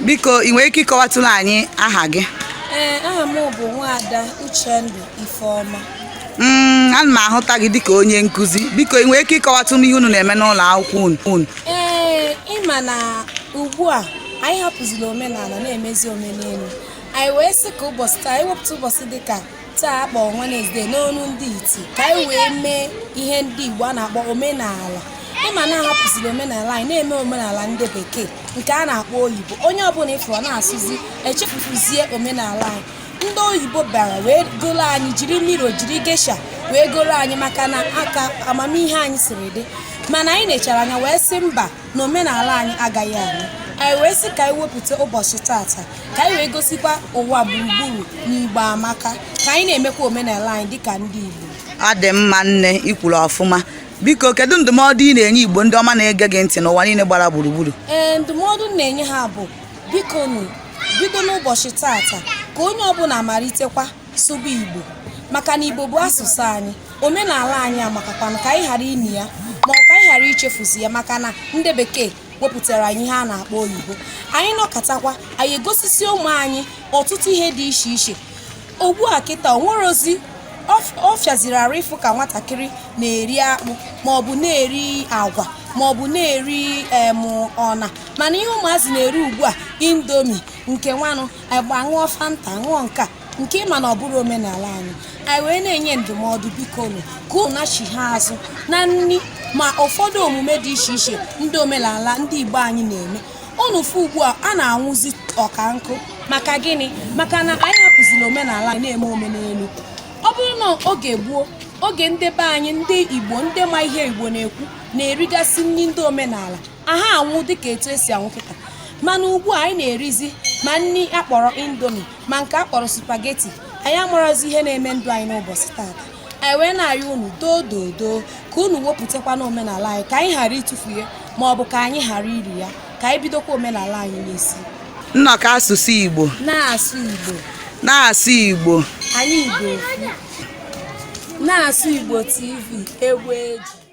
biko ị nwere ike ịkọwatụrụ anyị aha gị ee aha m bụ nwaada Uchendu Ifeoma mm, ana m ahụta gị dịka onye nkuzi biko ị nwere ike ịkọwatụ m ihe unu na-eme n'ụlọ akwụkwọ unu ee ị ma na ugbu a anyị hapụziri omenala na-emezi omenelu anyị wee sị ka ụbọchị taa anyị wepụta ụbọchị dịka taa a kpọ Wednesday n'ọnụ ndị iti ka anyị wee mee ihe ndị Igbo a na-akpọ omenala ị ma na a hapụziri omenala anyị na-eme omenala ndị bekee nke a na-akpọ oyibo onye ọbụla ị fụrụ na-asụzi echefuzie omenala anyị ndị oyibo bịara wee goro anyị jiri mirror jiri geisha wee goro anyị maka na aka amamihe anyị siri dị mana anyị nechara anya wee sị mba na omenala anyị agaghị anwụ anyị wee sị ka anyị wepụta ụbọchị taata ka anyị wee gosikwa ụwa gburugburu na igbo amaka ka anyị na-emekwa omenala anyị dịka ndị igbo ọ dị mma nne i kwuru ọfụma biko kedu ndụmọdụ ị na-enye igbo ndị ọma na-ege gị ntị n'ụwa niile gbara gburugburu ee ndụmọdụ m na-enye ha bụ bikonụ bido n'ụbọchị taata ka onye ọbụla malitekwa sụba igbo maka na igbo bụ asụsụ anyị omenala anyị amakakwana ka anyị ghara ini ya ma ọ bụ ka anyị ghara ichefuzi ya maka na ndị bekee wepụtara anyị ihe a na-akpọ oyibo anyị nọkatakwa anyị egosisi ụmụ anyị ọtụtụ ihe dị iche iche ugbu a kịta o nwerezi ọ fịaziri arụ ịfụ ka nwatakịrị na-eri akpụ maọbụ na-eri agwa maọbụ na-eri em ọna mana ihe ụmụazị na-eri ugbu a Indomie nke nwanụ agba ṅụọ fanta ṅụọ nke a nke ị ma na ọ bụrọ omenala anyị anyị wee na-enye ndụmọdụ bikonụ ka unu nachighaa azụ na nri ma ụfọdụ omume dị iche iche ndị omenala ndị igbo anyị na-eme unu fụ ugbu a a na-anwụzi ọka nkụ maka gịnị maka na anyị hapụziri omenala anyị na-eme omenelu ọ bụrụ na oge gboo oge ndị be anyị ndị igbo ndị ma ihe igbo na-ekwu na-erigasị nri ndị omenala aha anwụ dịka etu e si anwụ kịta mana ugbu a anyị na-erizi ma nri a kpọrọ Indomie ma nke a kpọrọ spaghetti anyị amarọzi ihe na-eme ndụ anyị n'ụbọchị taata anyị wee na-arịọ unu doo doo doo ka unu wepụtakwanụ omenala anyị ka anyị ghara ịtụfu ya ma ọ bụ ka anyị ghara iri ya ka anyị bidokwa omenala anyị n'isi nnọkọ asụsụ igbo na-asụ igbo na-asụ igbo anyị igbo na-asụ igbo tv egwu eji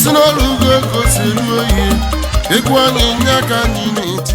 si n'ọrụ ugo ego si elu oyi egwu anyị nye aka anyị na-eti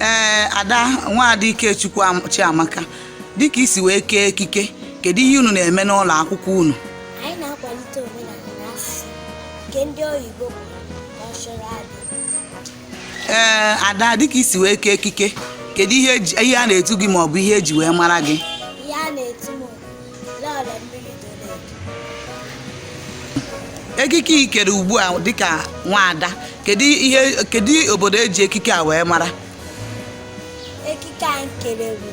ee ada nwaada Ikechukwu Am- Chiamaka dịka i si wee kee ekike kedu ihe unu na-eme n'ụlọ akwụkwọ unu anyị na-akwalite omenala na asụsụ nke ndị oyibo kpọrọ cultural heritage. ee ada dịka i si wee kee ekike kedu ihe eji- ihe a na-etu gị maọbụ ihe e ji wee mara gị ekike i kere ugbu a dịka nwaada kedu ihe kedu obodo e ji ekike a wee mara ekike a m kere bụ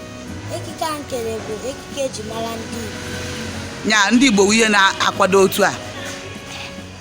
ekike a m kere bụ ekike e ji mara ndị Igbo ya ndị Igbo wụ ihe na-akwado otu a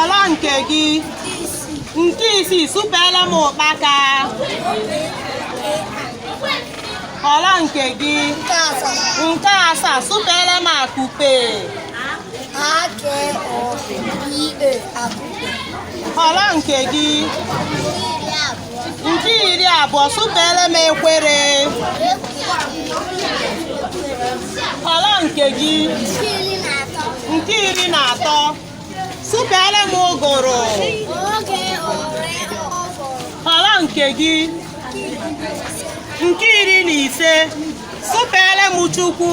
ọla nke gị nke isii sụpeele m ụkpaka ọla nke gị nke asaa sụpeele m akupe ọla nke gị Nke iri na abụọ sụpeere m ekwere ọla nke gị nke iri na atọ sụpeere m ụgụrụ ọla nke gị nke iri na ise sụpeere m Chukwu